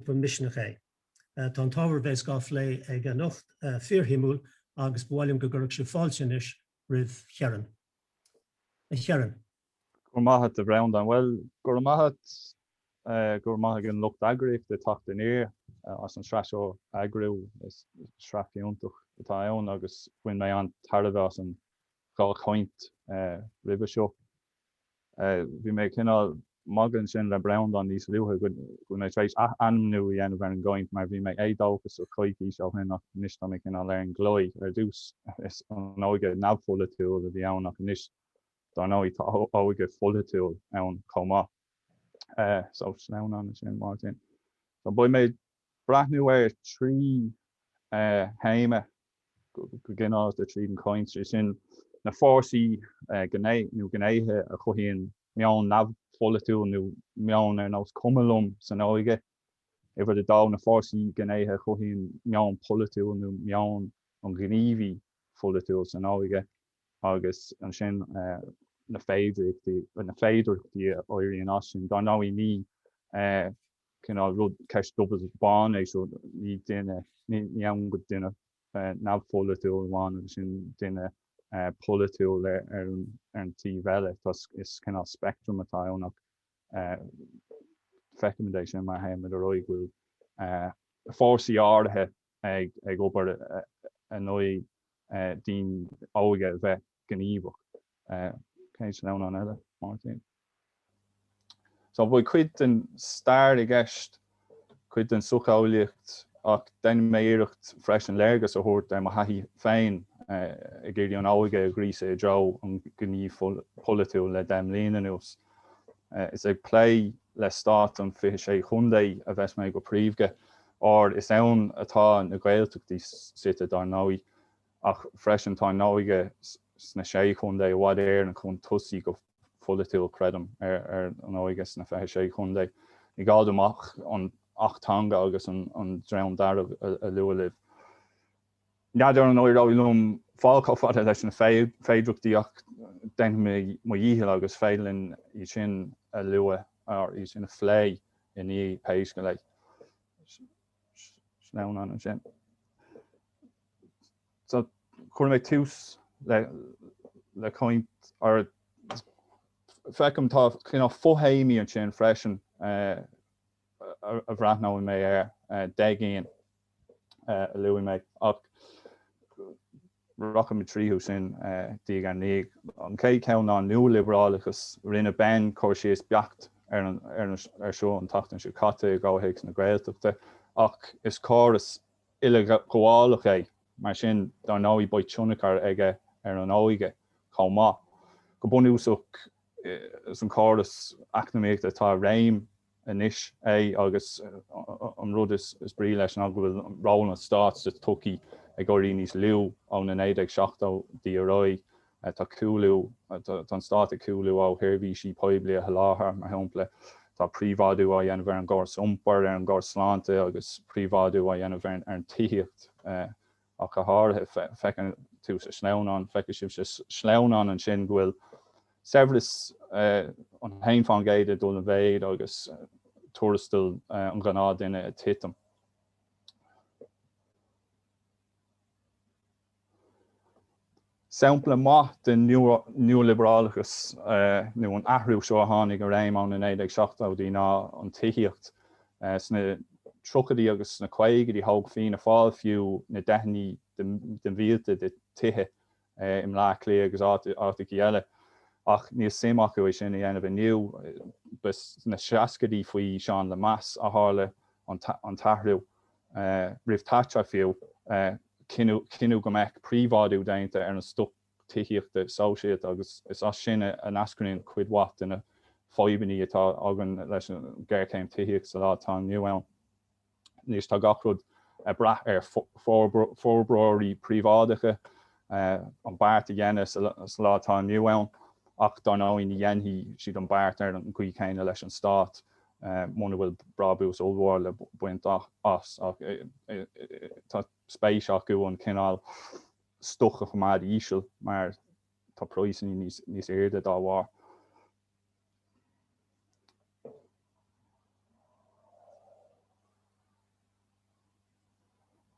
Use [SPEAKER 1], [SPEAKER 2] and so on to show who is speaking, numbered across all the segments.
[SPEAKER 1] grúpa Misneach é. Tá an t-ábhar a bheas dhá phlé aige anocht fíor-shuimiúil agus ba mhaith liom go gcuirfeadh sibh fáilte anois roimh Chiarán. A Chiaráin. Go raibh
[SPEAKER 2] maith a't, a Bhreandán. Bhuel, go raibh maith a't, go raibh maith ag an lucht eagraíochta Teacht Aniar as an sraith seo a eagrú. Is sraith fiúntach atá ann agus bhain mé an-tairbhe as an dhá chaint roimhe seo. Bhí mé cineál magadh ansin le Breandán níos luaithe go bhfuil mé tar éis ath-ainmniú a dhéanamh ar an gcaint mar bhí mé éadóchasach coicís ó shin ach anois tá mé cineál ar an gclaí. Ar dtús is an óige neamhpholaitiúil a bhí ann ach anois dár ndóigh tá óige pholaitiúil ann chomh maith. So sleamhnán ansin Máirtín. Beidh mé breathnú ar trí théama go gineáralta tríd an chaint, sin, na fórsaí nó gnéithe a chothaíonn meon neamhpholaitiúil nó meon ar nós cuma liom san óige, uimhir a dó, na fórsaí, gnéithe a chothaíonn meon polaitiúil nó meon an ghníomhaí pholaitiúil san óige agus ansin na féidearthachtaí a éiríonn as sin. Dár ndóigh ní. cineál rud, ceist dubh agus bán é seo, ní duine, ní ann go duine neamhpholaitiúil amháin agus ansin duine polaitiúil ar an taobh eile. Is cineál spectrum atá ann ach feicimid é sin mar théama ar aon nós go bhfuil fórsaí áirithe ag obair in aghaidh don óige a bheith gníomhach. Chéad sleamhnán eile, Máirtín? So beidh cuid den stair i gceist, cuid den socheolaíocht ach dhein mé iarracht freisin léargas a thabhairt ar mo thaithí féin ag iarraidh an óige a ghríosadh i dtreo an ghnímh pholaitiúil le deich mbliana anuas. Is ag plé le stát an 26 Chontae a bheas mé go príomhdha, óir is ann atá na Gaeltachtaí suite, dár ndóigh. ach freisin tá an óige sna Sé Chontae, i bhfad Éireann chun tosaigh go polaitiúil creidim, ar an óige sna Fiche Sé Chontae. Ní gá dom ach an tAcht Teanga agus an an Dream Dearg a lua libh. N'fheadar an éireoidh liom fáil chomh fada leis na féidireachtaí ach déanfaidh mé mo dhícheall agus is féidir linn iad sin a lua or iad sin a phlé i ndiaidh pé scéal é. Sleamhnán ansin. So chuir mé tús le caint ar, feicim tá cineál fo-théamaí ansin freisin a bhreathnóidh mé air, de cheann a luaigh mé ach rachaidh mé tríothu sin diaidh ar ndiaidh. An chéad cheann ná an nualiobrálachas, rinne Ben cur síos beacht air seo an tseachtain seo caite i gcomhthéacs na Gaeltachta ach is córas, uileghabhálach é, mar sin, dar ndóigh beidh tionchar aige ar an óige chomh maith. Go bunúsach, is an córas eacnamaíochta atá i réim anois é agus an rud is brí leis ná go bhfuil ról an stáit sa tsochaí ag éirí níos lú ó na 1970idí ar aghaidh. Tá cúlú, tá an Stát ag cúlú ó sheirbhísí poiblí a sholáthar, mar shampla, tá príobháidiú á dhéanamh ar an gcóras iompair, ar an gcóras sláinte agus príobháidiú á dhéanamh ar an tithíocht ach go háirithe. Feiceann tú sa sleamhnán, feicfidh sibh sa sleamhnán ansin go bhfuil saibhreas an haon fán gcéad ag dul i mhéid agus tuarastal an ghnáthduine ag titim. Sampla maith den nualiobrálachas nó an athrú seo a tháinig i réim ó na 1970idí ná an tithíocht. Sna tríochaidí agus sna caogaidí thóg Fianna Fáil fiú na deicheannaí de mhílte de tithe i mBleá Cliath agus áiteachaí eile. Ach níl suim acu é sin a dhéanamh inniu. Ba sna seascaidí faoi Seán Lemass a tharla an t-athrú. roimh Thatcher fiú, cinneadh go mbeadh príobháidiú déanta ar an stoc tithíochta sóisialta agus is as sin a eascraíonn cuid mhaith de na fadhbanna atá againn leis an ngéarchéim tithíochta sa lá atá inniu ann. Anois tá gach rud ag brath ar forbróirí príobháideacha an beart a dhéanamh sa lá atá inniu ann ach dar ndóigh ní dhéanfaidh siad an beart ar an gcaoi chéanna leis an stát muna bhfuil brabús ollmhór le baint as agus tá spéis acu an cineál stoc a choimeád íseal mar tá praghsanna níos airde dá bharr.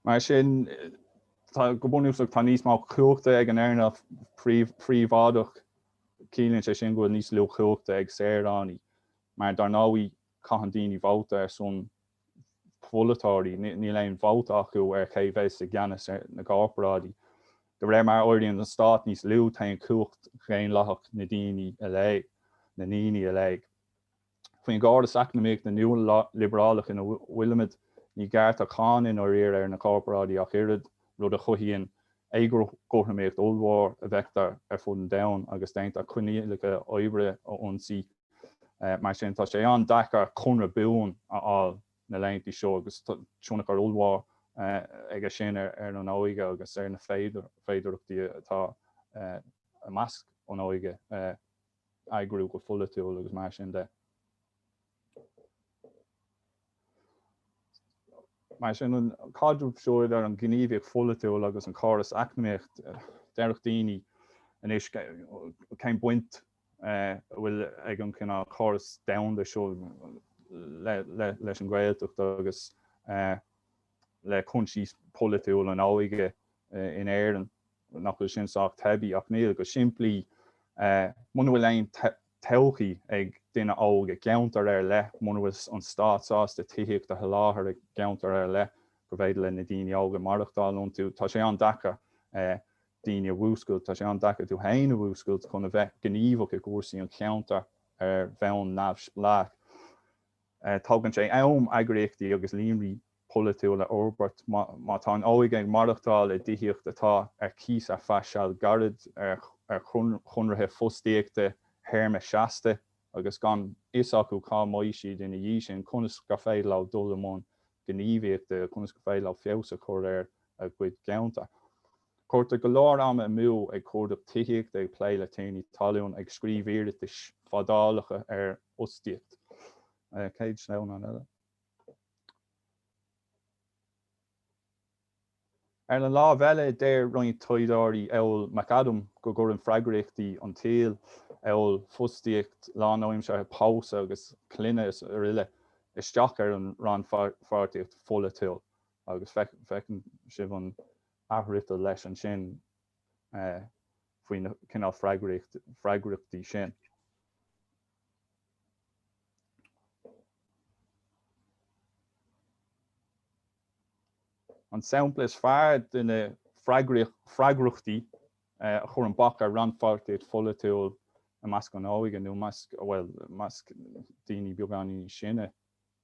[SPEAKER 2] Mar sin, go bunúsach tá níos mó cumhachta ag an earnáil phríobháideach, ciallaíonn sé sin go bhfuil níos lú cumhachta ag saoránaigh. Mar dar ndóigh caitheann daoine vótaí ar son pholaiteoirí, níl aon vóta acu ar ché bheas i gceannas na gcorparáidí. De réir mar a éiríonn an stát níos lú téann cumhacht dhaonlathach na daoine i léig, na ndaoine i léig. Faoin gcóras eacnamaíoch na nua-liobrálach ina bhfuilimid ní gearrtar cáin i ndáiríre ar na gcorparáidí ach oiread, rud a chothaíonn éagothromaíocht ollmhór a bhfeictear ar fud an domhain agus déantar coinníollacha oibre a ionsaí. Mar sin tá sé an-deacair conradh buan a fháil na laethanta seo agus tionchar ollmhór aige sin ar an óige agus ar na féidearthachtaí atá i measc an óige eagrú go pholaitiúil agus mar sin de. Mar sin, an caidreamh seo idir an gníomhaíocht pholaitiúil agus an córas eacnamaíocht, déarfadh daoine anois cén baint a bhfuil ag an cineál córas domhanda seo leis an Gaeltacht agus le cúinsí polaitiúla an óige in Éirinn. nach bhfuil sin sách teibí ach níl, go simplí, muna bhfuil aon todhchaí ag duine óg i gceantar ar leith, muna bhfuil an stát sásta tithíocht a sholáthar i gceantar ar leith gur féidir le na daoine óga maireachtáil iontu, tá sé an-deacair daoine a mhúscailt, tá sé an-deacair tú féin a mhúscailt chun a bheith gníomhach i gcúrsaí an cheantar ar bhonn neamhspleách. Tógann sé am eagraíochtaí agus líonraí polaitiúil a fhorbairt. Má tá an óige ag maireachtáil i dtithíocht atá ar cíos ar feadh seal gairid, ar chonraithe fostaíochta théarma seasta, agus gan fhios acu cá mbeidh siad ina dhiaidh sin, conas gur féidir leo dul i mbun gníomhaíochta, conas gur féidir leo feabhas a chur ar a gcuid ceantar? Cuirtear go leor ama amú ag cuardach tithíochta, ag plé le tiarnaí talún, ag scríobh iarratais fadálacha ar fhostaíocht. Céad sleamhnán eile. Ar an lámh eile, deir roinnt taighdeoirí amhail McAdam go gcuireann freagraíochtaí an tsaoil, amhail fostaíocht lánaimseartha, pósadh agus clainne is aroile, isteach ar an rannpháirtíocht pholaitiúil, agus feiceann sibh an athfhriotal leis ansin faoi na cineál freagraíochtaí sin. An sampla is fearr de na freagrachtaí a chuireann bac ar rannpháirtíocht pholaitiúil i measc an óige nó i measc, bhuel, i measc daoine beagáinín níos sine,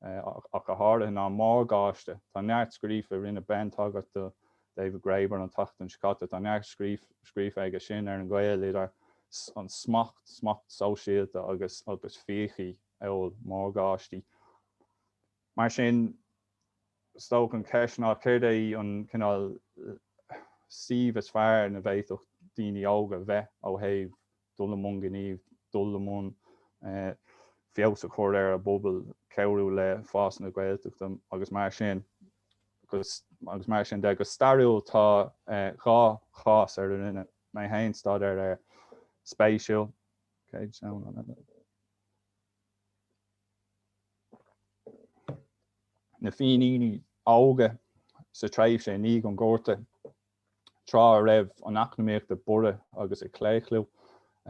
[SPEAKER 2] é, ach go háirithe, ná morgáiste. Tá neart scríofa, rinne Ben tagairt do David Graeber an tseachtain seo caite, tá neart scríofa aige sin ar an ghaol idir an smacht, smacht sóisialta, agus fiachaí, amhail morgáistí. Mar sin, is dócha an cheist ná céard é an cineál suímh is fearr ina bhféadfadh daoine óga bheith ó thaobh dul i mbun gnímh, dul i mbun feabhas a chur ar a bpobal, cabhrú le fás na Gaeltachta agus mar sin agus mar sin de. Go stairiúil tá dhá chás ar a ndearna mé féin staidéar ar spéisiúil, na Fíníní óga sa tréimhse i ndiaidh an Ghorta. Tráth a raibh an eacnamaíocht ag borradh agus ag claochlú,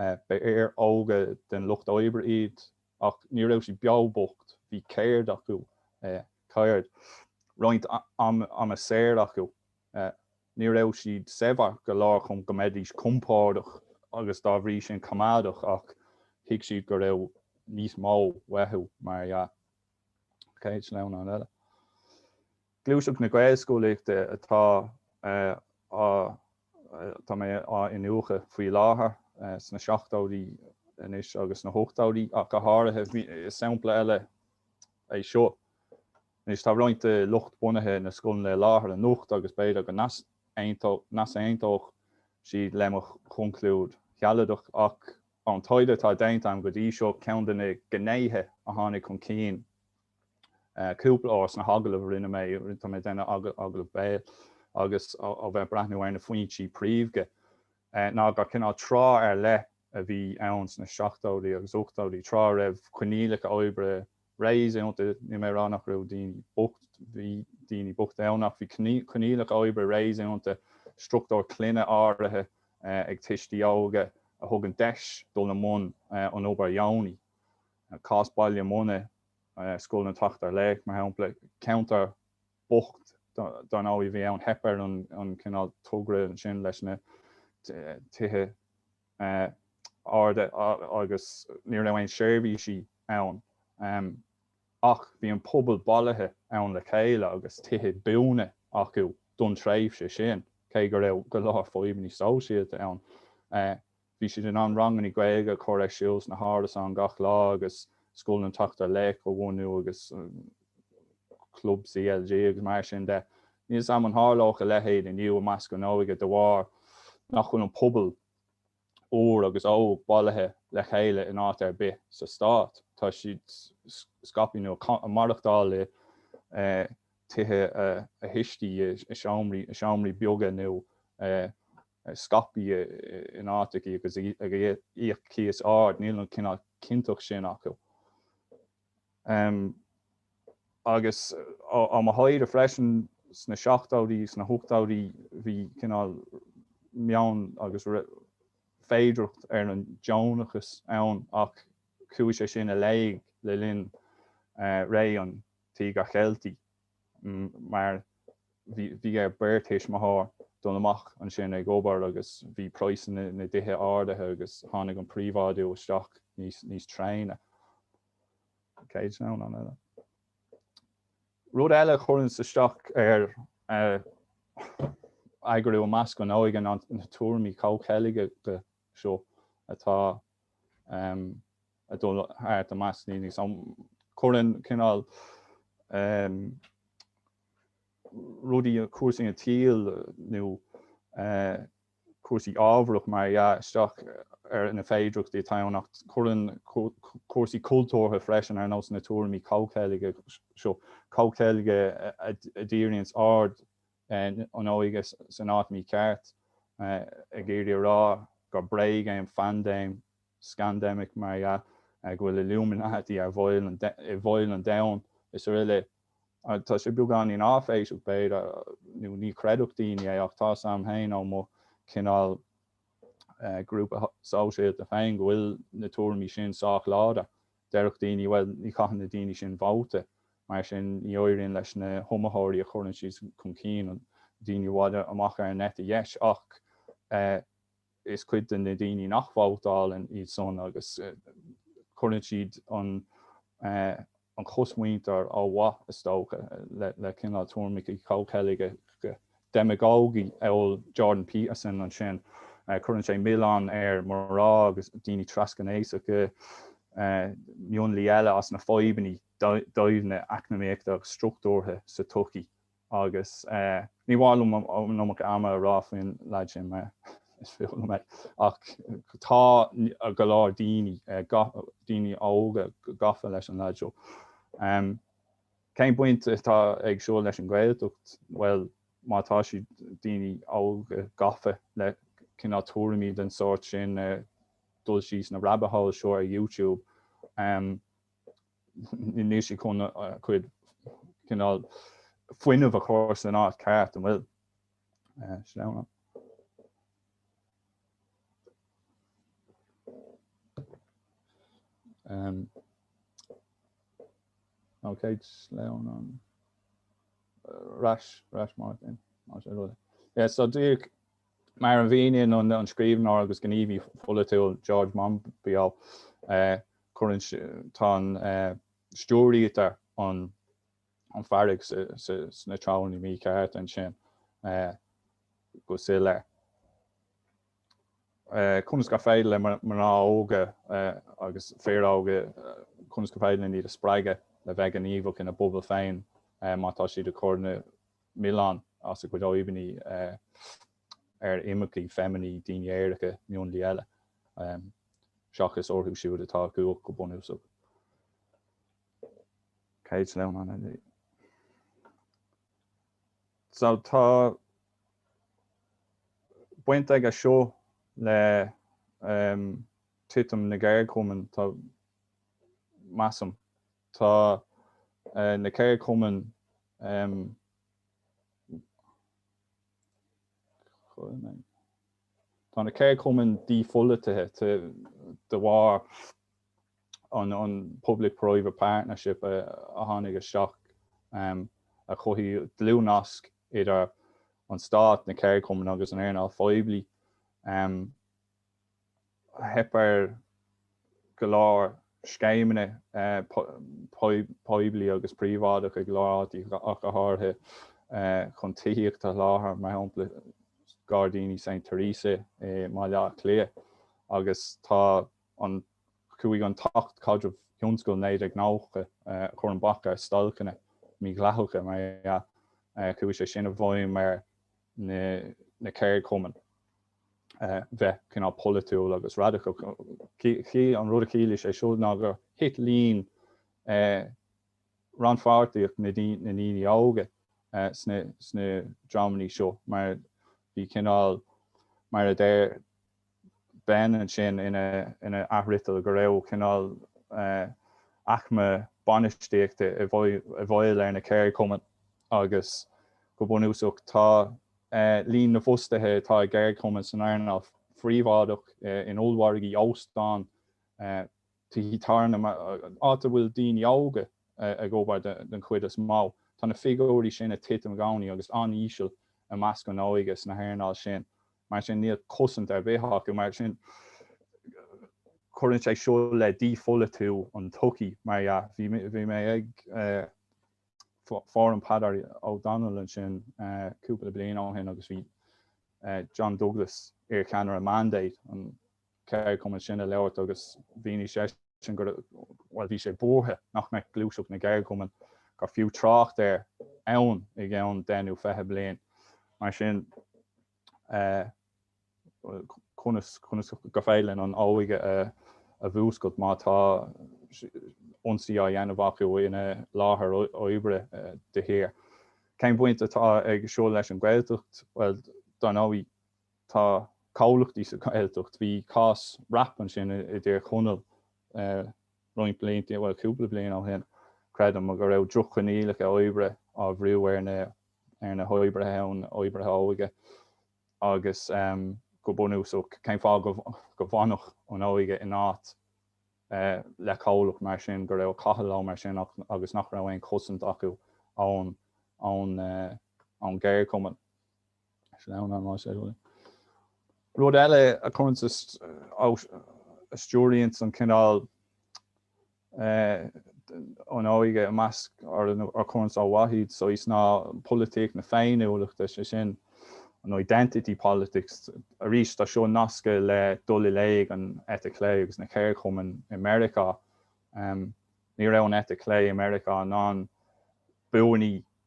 [SPEAKER 2] ba fhir óga den lucht oibre iad, ach ní raibh siad beo bocht, bhí ceird acu, ceird, roinnt ama saor acu. Ní raibh siad saibhir go leor chun go mbeidís compordach agus dá bhrí sin coimeádach ach thuig siad go raibh níos mó uathu, mar dhea. Chéad sleamhnán eile. Gluaiseacht na Gaelscolaíochta atá atá mé á iniúchadh faoi láthair, sna seachtóidí anois agus sna hóchtóidí ach go háirithe. Is sampla eile é seo. Anois tá roinnt de lucht bunaithe na scoileanna i láthair anocht agus b'fhéidir go n-easaontódh siad le mo chonclúid shealadach ach ón taighde atá déanta agam go dtí seo, ceann de na gnéithe a tháinig chun cinn Cúpla uair sna hagallaimh rinne mé, tá mé ag déanamh agallamh béil agus a bheith ag breathnú ar na foinsí príomha ná gur cineál tráth ar leith a bhí ann sna seachtóidí agus ochtóidí, tráth a raibh coinníollacha oibre réasúnta, níl mé ag rá nach raibh daoine bocht, bhí daoine bocht ann ach bhí coinníollacha oibre réasúnta, struchtúir clainne áirithe ag tuistí óga a thugann deis dul i mbun an obair dheonaí. Cás Baile Munna, Scoil an tSeachtar Laoch, mar shampla. Ceantar bocht dar ndóigh a bhí ann. Theip ar an chineál togra ansin leis na tithe arda agus ní raibh aon seirbhísí ann. Ach bhí an pobal bailithe ann le chéile agus tithe buana acu don tréimhse sin, cé go raibh go leor fadhbanna sóisialta ann. Bhí siad in ann ranganna Gaeilge a chur ar siúl sna hárasáin gach lá agus Scoil an tSeachtar Laoch a bhunú agus club CLG agus mar sin de. Níl 's am an tharlódh a leithéid inniu i measc an óige de bharr nach bhfuil an pobal, úr agus óg, bailithe le chéile in áit ar bith sa Stát. Tá siad scaipthe nó ag maireachtáil i dtithe a thuistí, i seomraí beaga nó i scaipthe in áiteachaí agus ag íoc cíos ard, níl an cineál cinnteacht sin acu. Agus ó mo thaighde freisin, sna seachtóidí agus sna hochtóidí bhí cineál meon agus féidireacht ó an deonachas ann ach chuaigh sé sin i léig le linn ré an Tíogair Cheiltigh. mar bhí ar beirt tuismitheoir dul amach ansin ag obair agus bhí praghsanna na dtithe ardaithe agus tháinig an príobháidiú isteach níos tréine ná. Rud eile a chuireann isteach ar eagrú i measc an óige ná na tuairimí comhcheilge seo atá ag dul thart i measc daoine so cuireann cineál ehm rudaí cúrsaí an tsaoil nó eh cúrsaí ábharach mar dhea isteach ar na féidireachtaí atá ann ach cuireann cúrsaí cultúrtha freisin ar nós na tuairimí comhcheilge seo comhcheilge a díríonns aird an óige san áit mícheart, ag iarraidh a rá gur bréag é an phaindéim scandemic mar dhea, go bhfuil illuminati i bhfeighil an domhain srl. Tá sé beagáinín áiféiseach b'fhéidir, nó ní chreidfeadh daoine é, ach tá 's am féin ó mo chineál grúpa sóisialta féin go bhfuil na tuairimí sin sách láidir. Déarfadh daoine, bhuel, ní chaitheann na daoine sin vóta, mar sin ní éiríonn leis na hiomaitheoirí a chuireann siad chun cinn, daoine i bhfad amach ar an eite dheis, ach is cuid de na daoine nach vótálann iad san agus cuireann siad an chosmhuintir ó mhaith, is dócha, le cineál tuairimí comhcheilge. demagógaí amhail Jordan Peterson ansin. Cuireann sé milleán ar mná agus daoine trasghnéasacha, mionlaigh eile as na fadhbanna doimhne eacnamaíochta struchtúrtha sa tsochaí agus ní maith liom an iomarca ama a rá faoin leaid sin mar is fuath liom é ach tá go leor daoine óga gafa leis an leaid seo. Cén baint atá aige seo leis an Ghaeltacht? Bhuel, má tá siad, daoine óga, gafa le cineál tuairimí den tsórt sin, ag dul síos na rabbit holes seo ar YouTube, níl siad chun a gcuid cineál fuinnimh a chur san áit ceart, an bhfuil? Sleamhnán. Um, Okay sleamhnán ar ais Máirtín. Yeah so dar ndóigh mar a mhíníonn an scríbhneoir agus gníomhaí polaitiúil George Monbiot é, cuireann, tá ár n-aird stiúrtha, ár bhfearg, sna treonna míchearta ansin go soiléir. Conas gur féidir le mná óga agus fir óga, conas gur féidir linne iad a spreagadh le bheith gníomhach ina bpobail féin má tá siad ag cur na milleán as a gcuid fadhbannaí ar imircigh, feiminigh, daoine aeracha, mionlaigh eile, seachas orthu siúd atá ciontach go bunúsach. Céad sleamhnán eile. So tá baint aige seo le titim na gceardchumann, tá, measaim. Tá na ceardchumainn, tá na ceardchumainn dípholaitithe de bharr. an Public Private Partnership a tháinig isteach a chothaigh dlúthnasc idir an Stát, na ceardchumainn agus an earnáil phoiblí. Theip ar go leor scéimeanna poiblí agus príobháideacha i go leor áiteacha ach go háirithe chun tithíocht a sholáthar, mar shampla Gairdíní Saint Theresa i mBaile Átha Cliath, agus tá. an, chuaigh an tAcht Caidrimh Thionscail 1990 a chuir an bac ar stailceanna mídhleathacha mar dhea. Chuaigh sé sin i bhfeidhm ar na ceardchumainn bheith cineál polaitiúil agus radical. An rud a chiallaigh sé seo ná gur thit líon rannpháirtíocht na ndaoine óga sna dreamanna seo mar bhí cineál, mar a deir Ben ansin ina athfhriotal go raibh cineál aicme bainistíochta i bhfeighil ar na ceardchumainn agus go bunúsach tá líon na bhfostaithe atá i gceardchumainn san earnáil phríobháideach, in ollmhargaí, óstáin, tithe tábhairne, áit a bhfuil daoine óga ag obair den chuid is mó, tá na figiúirí sin ag titim i gcónaí agus an-íseal i measc na hóige sna hearnáil sin. Mar sin níl cosaint ar bith acu. Mar sin cuireann sé seo le dípholaitiú an tsochaí mar dhea. Bhí mé ag fóram Peadar Ó Domhnaill ansin cúpla bliain ó shin agus bhí John Douglas, iarcheannaire Mandate, ceardchumann sin a labhairt agus mhínigh seisean gur, bhuel, bhí sé buartha nach mbeadh gluaiseacht na gceardchumann, gur fiú trácht air ann i gceann deich nó fiche bliain. Mar sin, conas, conas gur féidir linn an óige a, a mhúscailt má tá ionsaí á dhéanamh acu ina láthair oibre de shíor. Cén bhaint atá aige seo leis an Ghaeltacht? Bhuel, dar ndóigh. Tá comhlachtaí sa Ghaeltacht, bhí cás RAP ansin i dTír Chonaill roinnt blianta, bhuel cúpla bliain ó shin creidim, go raibh droch-choinníollacha oibre á bhrú ar na hoibrithe ann, oibrithe óige agus go bunúsach cén fáth go bhfanfadh an óige in áit le comhlacht mar sin, go raibh ag caitheamh leo mar sin agus nach raibh aon chosaint acu ón gceardchumann. Rud eile a chuireann, a stiúraíonn cineál an óige amú, nó a chuireann ar mhíthreoir iad, so is ná polaitíocht na féiniúlachta, sé sin an identity politics. Arís tá seo nasctha le dul i léig an eite chlé agus na ceardchumainn i Meiriceá. Ní raibh an eite chlé i Meiriceá in ann buanna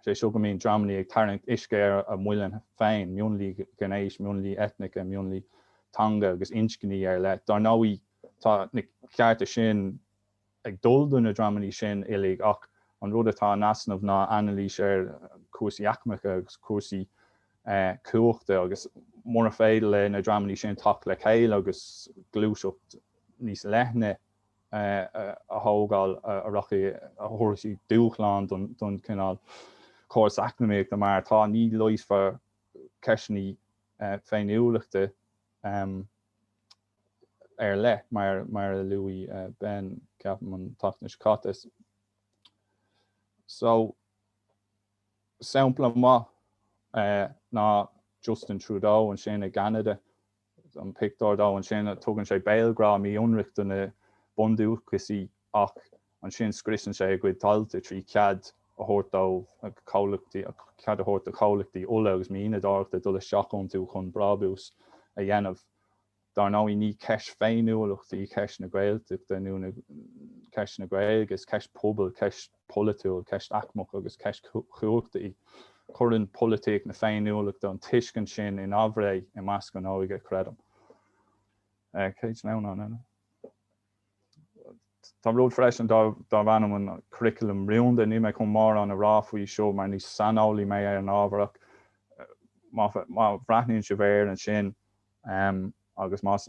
[SPEAKER 2] Is é seo go mbíonn dreamannaí ag tarraingt uisce ar a muileann féin, mionlaigh ghnéis, mionlaigh eitneacha, mionlaigh teanga agus inscní ar leith. Dár ndóigh, tá na cearta sin ag dul do na dreamannaí sin uilig ach an rud atá in easnamh ná anailís ar chúrsaí aicmeacha agus cúrsaí cumhachta agus mura féidir leis na dreamannaí sin teacht le chéile agus gluaiseacht níos leithne, a thógáil a rachaidh a thabharfaidh dúshlán don chineál córas eacnamaíochta mar atá, ní réiteofar ceisteanna féiniúlachta ar leith mar a luaigh Ben ceapaim an tseachtain seo caite. So sampla maith ná Justin Trudeau ansin i gCeanada an pictiúr dó. Ansin tugann sé béalghrá mí-ionraic do na bundúchasaigh ach ansin scriosann sé a gcuid tailte trí chead a thabhairt dóibh comhlachtaí cead a thabhairt do chomhlachtaí ola agus mianadóireachta dul isteach iontu chun brábús a dhéanamh. Dar ndóigh ní ceist féiniúlachta í ceist na Gaeltachta nó ceist na Gaeilge, is ceist pobail, ceist. polaitiúil, ceist aicmeach agus ceist chumhachta í. Cuireann polaitíocht na féiniúlachta an tuiscint sin in aimhréidh i measc an óige, creidim. Tá rud freisin darb ainm an curriculum rúnda, níl mé chun mórán a rá faoi seo mar ní saineolaí mé ar an ábhar ach má bhreathnaíonn sibh air ansin, Agus más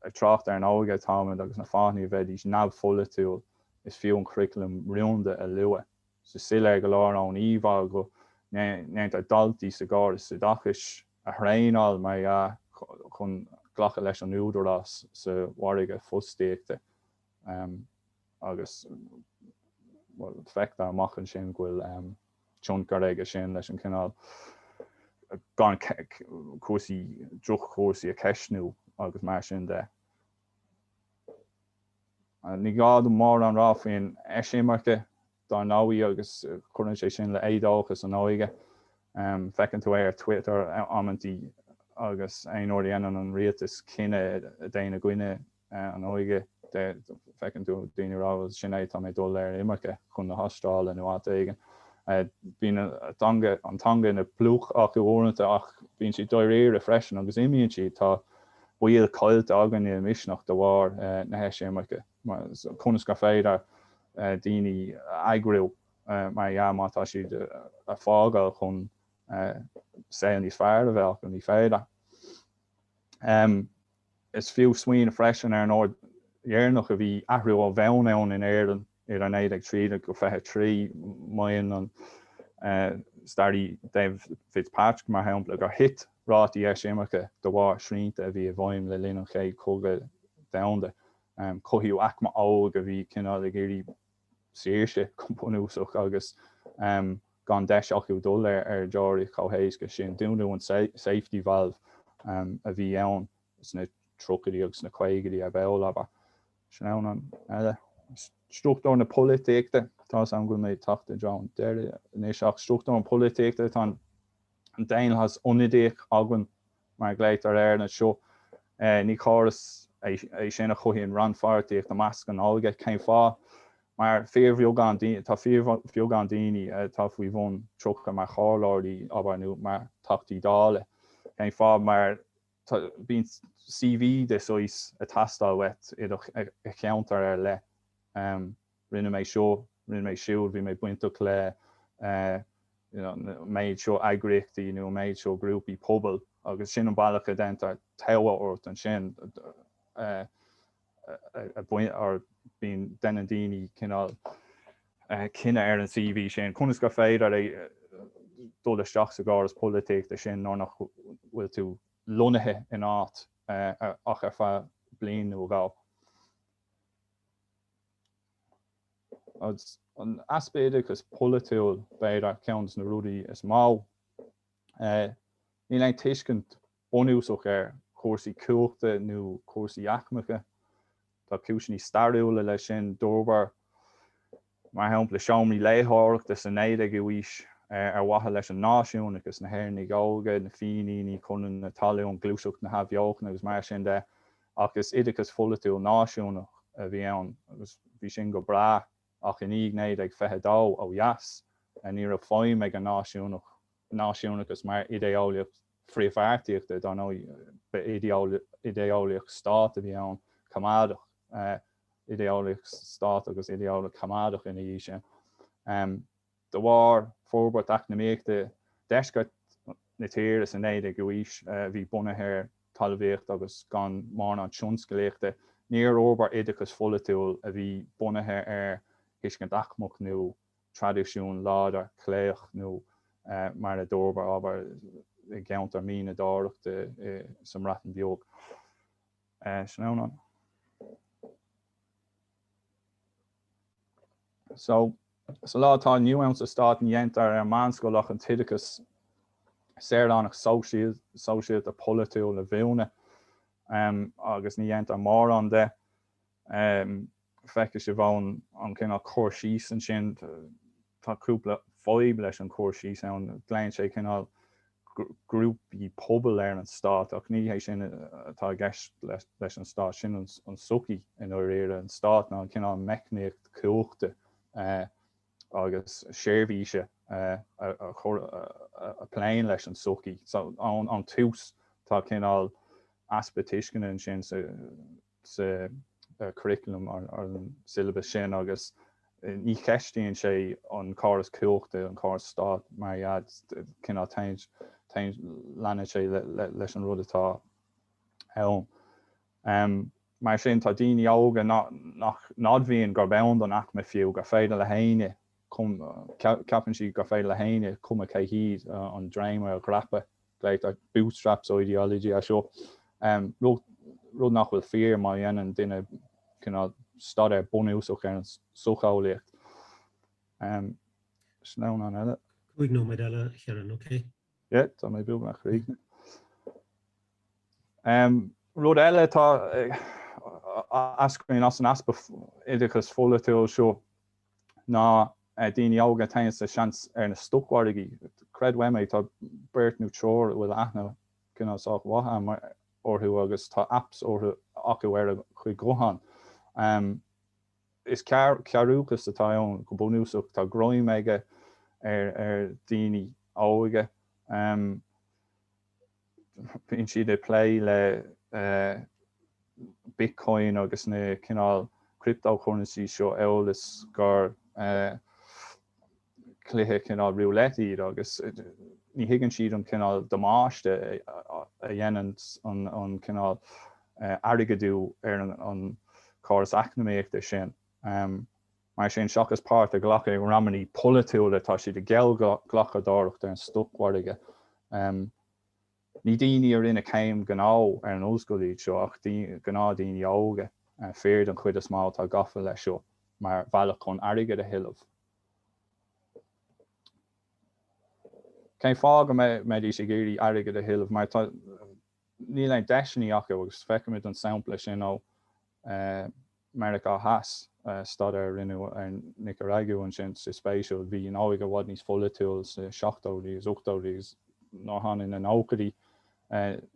[SPEAKER 2] ag trácht ar an óige atáimid agus na fáthanna a bheidís neamhpholaitiúil is fiú an curriculum rúnda a lua. Is soiléir go leor ón íomhá go ndéantar daltaí sa gcóras oideachais a thraenáil, mar dhea, chun glacadh leis an údarás sa mhargadh fostaíochta agus, bhuel, feictear amach ansin go bhfuil. tionchar aige sin leis an cineál gan chúrsaí, droch-chúrsaí a cheistniú agus mar sin de. Ní gá dom mórán a rá faoin eisimirce dár ndóigh agus cuireann sé sin le éadóchas an óige. Feiceann tú é ar Twitter amantaí agus aon uair a dhéanann an rialtas cinneadh a théann i gcoinne An óige, feiceann tú daoine a rá bhuel sin é, tá mé ag dul ar imirce chun na hAstráile nó áit éigin. Bíonn an teanga ina bpluc acu uaireanta ach bíonn siad dáiríre freisin agus imíonn siad. Tá baill caillte againne i Misneach de bharr na heisimirce. Conas gur féidir daoine a eagrú mar dhea má tá siad a fágáil chun saol níos fearr a bheith acu? Ní féidir. Is fiú smaoineamh freisin ar an uair dheireanach a bhí athrú ó bhonn ann in Éirinn idir 1913-23. Maíonn an staraí David Fitzpatrick, mar shampla, gur thit rátaí eisimirce de bharr srianta a bhí i bhfeidhm le linn an Chéad Chogadh Domhanda. Cothaíodh aicme óg a bhí cineál ag iarraidh saoirse go bunúsach agus gan deis acu dul ar deoraíocht chomh héasca sin. Dúnadh an safety valve a bhí ann sna tríochaidí agus sna caogaidí ar ball, abair. Sin ceann eile. Struchtúr na polaitíochta, tá's a'm go bhfuil mé ag teacht i dtreo an deiridh anois, ach struchtúr na polaitíochta, tá an daonlathas ionadaíoch againn mar a glaotar air anseo. Ní córas é sin a chothaíonn rannpháirtíocht i measc an óige. Cén fáth? Mar tá fíorbheagán daoine atá faoi bhun 30 mar chomhairleoirí, abair, nó mar Theachtaí Dála. Cén fáth? Mar bíonn CV de shaghas ag teastáil uait i do cheantar ar leith. Rinne mé seo, rinne mé siúd, bhí mé bainteach le méid seo eagraíochtaí nó méid seo grúpaí pobail agus sin an bealach a déantar togha ort ansin ar bíonn deineann daoine cineál cinneadh ar an CV sin. Conas gur féidir é dul isteach sa gcóras polaitíochta sin nuair nach bhfuil tú lonnaithe in áit ach ar feadh bliain nó dhó? Agus an easpa oideachas polaitiúil b'fhéidir ceann de na rudaí is mó. Níl aon tuiscint bunúsach ar chúrsaí cumhachta nó cúrsaí aicmeacha. Tá cúiseanna stairiúla leis sin. D'fhorbair mar shampla seomraí léitheoireachta sa 19ú aois, ar mhaithe leis an náisiúnachas, na hÉireannaigh óga, na Fíníní, Conradh na Talún, Gluaiseacht na hAthbheochana agus mar sin de, ach is oideachas polaitiúil náisiúnach a bhí ann agus bhí sin go breá ach i ndiaidh 1922 ó dheas ní raibh feidhm ag an náisiúnachas mar idé-eolaíocht phríomhpháirtíochta, dar ndóigh ba idé-eolaíocht stáit a bhí ann, coimeádach. idé-eolaíocht stáit agus idé-eolaíocht choimeádach ina dhiaidh sin. De bharr forbairt eacnamaíochta deisceart na tíre sa 19ú aois a bhí bunaithe ar thalmhaíocht agus gan mórán tionscalaíochta, níor fhorbair oideachas polaitiúil a bhí bunaithe ar thuiscint aicmeach nó traidisiún láidir cléiteach nó mar a d'fhorbair, abair, i gceantar mianadóireachta sa mBreatain Bheag. ansin. So, sa lá atá inniu ann sa Stát ní déantar ar meánscoil ach an t-oideachas saoránach sóisialta polaitiúil a mhúineadh agus ní déantar mórán de. Feicfidh sibh ón cineál cur síos ansin, Tá cúpla fadhb leis an gcur síos ann. Glaonn sé cineál grúpaí pobail ar an stát, ach ní hé sin atá i gceist leis an stát, sin an sochaí i ndáiríre. An stát ná cineál meicníocht cumhachta agus seirbhíse a phléann leis an sochaí. So ón tús tá cineál easpa tuisceana ansin sa. sa churriculum, ar an syllabus sin, agus ní cheistíonn sé an córas cumhachta, an córas stáit mar iad, cineál, leanann sé leis an rud atá ann. Mar sin, tá daoine óga nach n-admhaíonn gurb ann don aicme fiú, gur féidir le héinne, ceapann siad gur féidir le héinne cuma cé hiad an dréimire a dhreapadh Like that bootstraps ideology seo, rud nach bhfuil fíor má dhéanann duine cineál staidéar bunúsach ar an socheolaíocht. Sleamhnán eile. Cúig nóiméad
[SPEAKER 1] eile a Chiaráin, ok? Yeah, tá
[SPEAKER 2] mé beagnach réidh. Rud eile atá ag eascairt as an easpa oideachas pholaitiúil seo ná daoine óga a théann sa seans ar na stocmhargaí. Creid uaim é, tá beirt nó triúr a bhfuil aithne cineál sách mhaith agam orthu agus tá apps orthu, acu ar a gcuid guthán. Is cearrúchas atá ann go bunúsach. Tá greim aige ar dhaoine óga. bíonn siad ag plé le Bitcoin agus na cineál cryptocurrencies seo amhail is gur cluiche cineál roulette iad agus ní thuigeann siad an cineál damáiste a dhéanann an cineál airgeadú ar an córas eacnamaíochta sin. Mar sin, seachas páirt a ghlacadh i ndreamanna polaitiúla, tá siad ag geallghlacadóireacht ar an stocmhargadh. Ní daoine a rinne céim ghnó ar an ollscoil iad seo ach gnáth daoine óga, fir den chuid is mó, atá gafa leis seo mar bhealach chun airgead a thuilleamh. Cén fáth go mbeidís ag iarraidh airgead a thuilleamh? Mar tá. níl aon deiseannaí acu agus feicimid an sampla sin ó Meiriceá Theas, staidéar a rinneadh ar Nicaragua ansin sách spéisiúil. Bhí an óige i bhfad níos pholaitiúil sna seachtóidí agus ochtóidí agus nuair a tháinig na nóchaidí,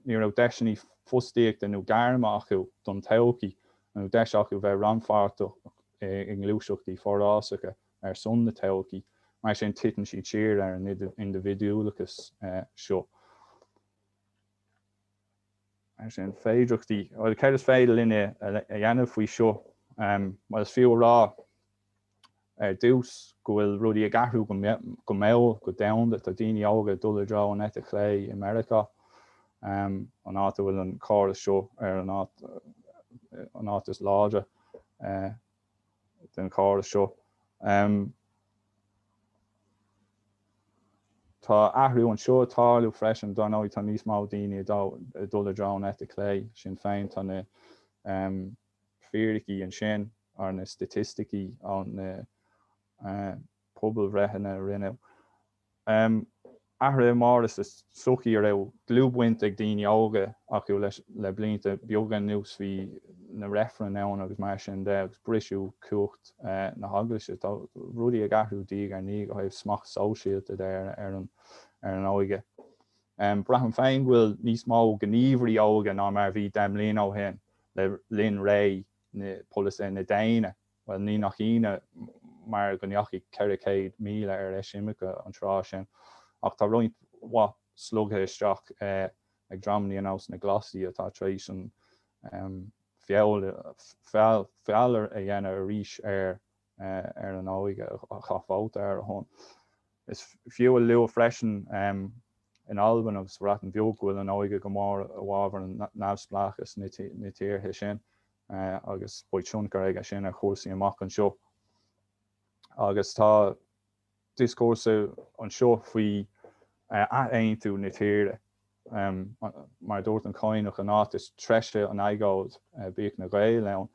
[SPEAKER 2] ní raibh deiseannaí fostaíochta nó gairme acu don todhchaí nó deis acu bheith rannpháirteach i ngluaiseachtaí forásacha ar son na todhchaí. Mar sin titeann siad siar ar an indibhidiúlachas seo. Mar sin, féidireachtaí, bhuel, céard is féidir linne a dhéanamh faoi seo? Bhuel, is fiú a rá ar dtús go bhfuil rudaí ag athrú go mall, go domhanda. Tá daoine óga ag dul i dtreo an eite chlé i Meiriceá, an áit a bhfuil an córas seo ar an áit is láidre. den chóras seo. Tá athrú anseo ag tarlú freisin. Dar ndóigh tá níos mó daoine ag dul i dtreo an eite chlé. Sinn Féin tá na fíricí ansin ar na staitisticí ó na pobalbhreitheanna a rinneadh. Athruithe móra sa tsochaí a raibh dlúthbhaint ag daoine óga acu leis le blianta beaga anuas. Bhí na reifrinn ann agus mar sin de agus briseadh cumhacht na hEaglaise. Tá rudaí ag athrú diaidh ar ndiaidh ó thaobh smacht sóisialta de ar an óige. Braithim féin go bhfuil níos mó gníomhairí óga ná mar a bhí deich mbliana ó shin le linn ré polasaithe na déine. Bhuel, ní nach ionadh mar go ndeachaigh 400,000 ar eisimirce an tráth sin. Ach tá roinnt mhaith slogtha isteach ag dreamanna ar nós na Glasaigh, atá tar éis an feall a dhéanamh arís ar an óige a chaith vóta ar a shon. Is fiú a lua freisin in Albain agus sa Bhreatain Bheag go bhfuil an óige go mór i bhfábhar an neamhspleáchais sna tíortha sin. agus beidh tionchar aige sin ar chúrsaí amach anseo. Agus tá dioscúrsa anseo faoi athaontú na tíre. Mar a dúirt an Cadhnach an áit is treise an agóid, bíodh na Gaeil ann.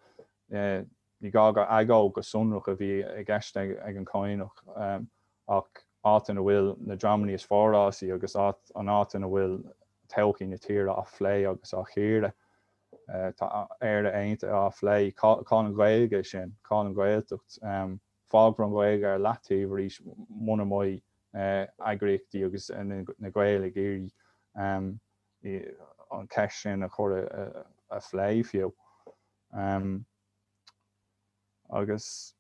[SPEAKER 2] Ní gá gur agóid go sonrach a bhí i gceist ag an Cadhnach ach áit ina bhfuil na dreamanna is forásaí agus an áit ina bhfuil todhchaí na tíre á phlé agus á chíoradh. Tá Éire Aontaithe á phlé. Cá'il an Ghaeilge sin? Cá'il an Ghaeltacht? Fágfar an Ghaeilg ar leataobh arís muna mbeidh eagraíochtaí agus na Gaeil ag iarraidh an cheist sin a chur a phlé fiú. Agus.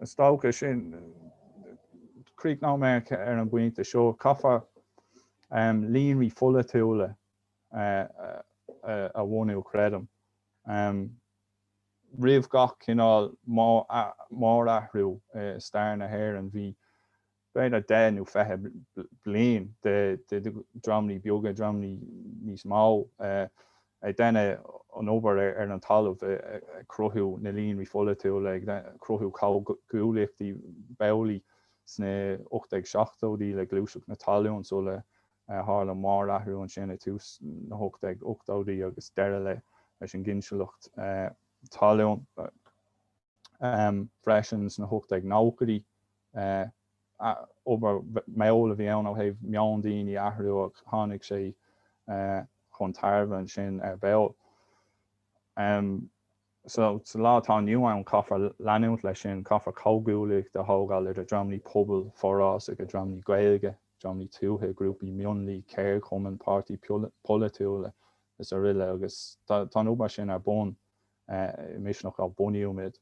[SPEAKER 2] Is dócha sin. Críochnóimid ar an bpointe seo. Caithfear líonraí pholaitiúla a bhunú, creidim, roimh gach cineál mórathrú i stair na hÉireann. Bhí. b'fhéidir deich nó fiche bliain de dhreamanna beaga, dreamanna níos mó, ag déanamh an obair ar an talamh, ag cruthú na líonraí pholaitiúla, ag cruthú comhghuaillíochtaí b'amhlaidh sna 1870idí le gluaiseacht na talún sula tharla mórathrú ansin ag tús na 1880idí agus deireadh leis an gcinsealacht talún freisin sna 1890idí. Obair mall a bhí ann ó thaobh meon daoine a athrú ach tháinig sé chun tairbhe ansin ar ball. Sa lá atá inniu ann caithfear leanúint leis sin, caithfear comhghuaillíocht a thógáil idir dreamannaí pobail, forásaigh, dreamannaí Gaeilge, dreamannaí tuaithe, grúpaí mionlaigh, ceardchumainn, páirtithe polaitiúla is araile agus tá an obair sin ar bun. I Misneach a bunaíodh muid.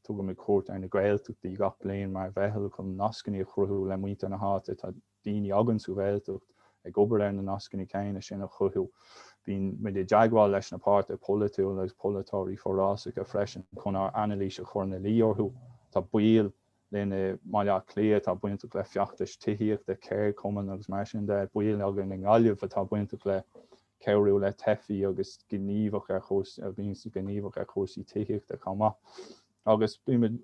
[SPEAKER 2] Tugaimid cuairt ar na Gaeltachtaí gach bliain mar mheitheal chun nascanna a chruthú le muintir na háite. Tá daoine againn sa Ghaeltacht ag obair ar na nascanna céanna sin a chruthú. Bíonn muid i dteagmháil leis na páirtithe polaitiúla agus polaiteoirí forásacha freisin chun ár anailís a chur ina luí orthu. Tá baill linn i mBaile Átha Cliath atá bainteach le feachtais tithíochta, ceardchumainn agus mar sin de, baill againn i nGaillimh atá bainteach le cabhrú le teifigh agus gníomhach ar chúrsaí, a bhíonn gníomhach ar chúrsaí tithíochta chomh maith. Agus bímid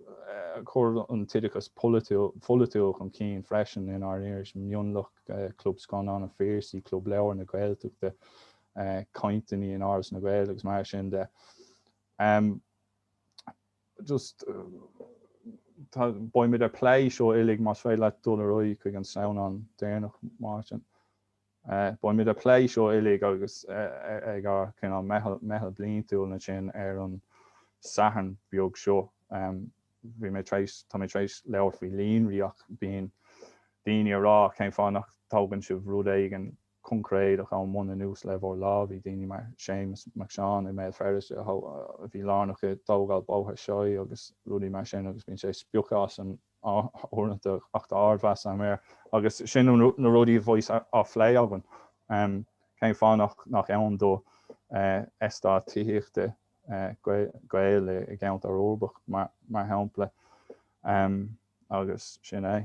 [SPEAKER 2] ag cur an oideachais pholaitiúil chun cinn freisin inár iris Mionlach, Club Scannán an Phiarsaigh, Club Leabhar na Gaeltachta, cainteanna in Áras na nGael agus mar sin de. just tá beimid ag plé seo uilig más féidir leat dul ar aghaidh chuig an sleamhnán déanach Máirtin. Eh beimid ag plé seo uilig agus eh ag ár cineál meitheal meitheal bliantúil ansin ar an Satharn beag seo em bhí mé tar éis tá mé tar éis labhairt faoi líonraí ach bíonn daoine ag rá cén fáth nach dtógann sibh rud éigin coincréideach ón mbonn anuas le bhur lámha, bíonn daoine mar Séamus Mac Seáin i mBéal Feirste a bhí lárnach i dtógáil Bóthar Seoighe agus rudaí mar sin agus bíonn sé ag spochadh asainn uaireanta ach tá ardmheas agam air agus sin na rudaí a bheas á phlé againn. Cén fáth nach ann do eastát tithíochta Gael i gceantar uirbeach mar shampla agus sin é.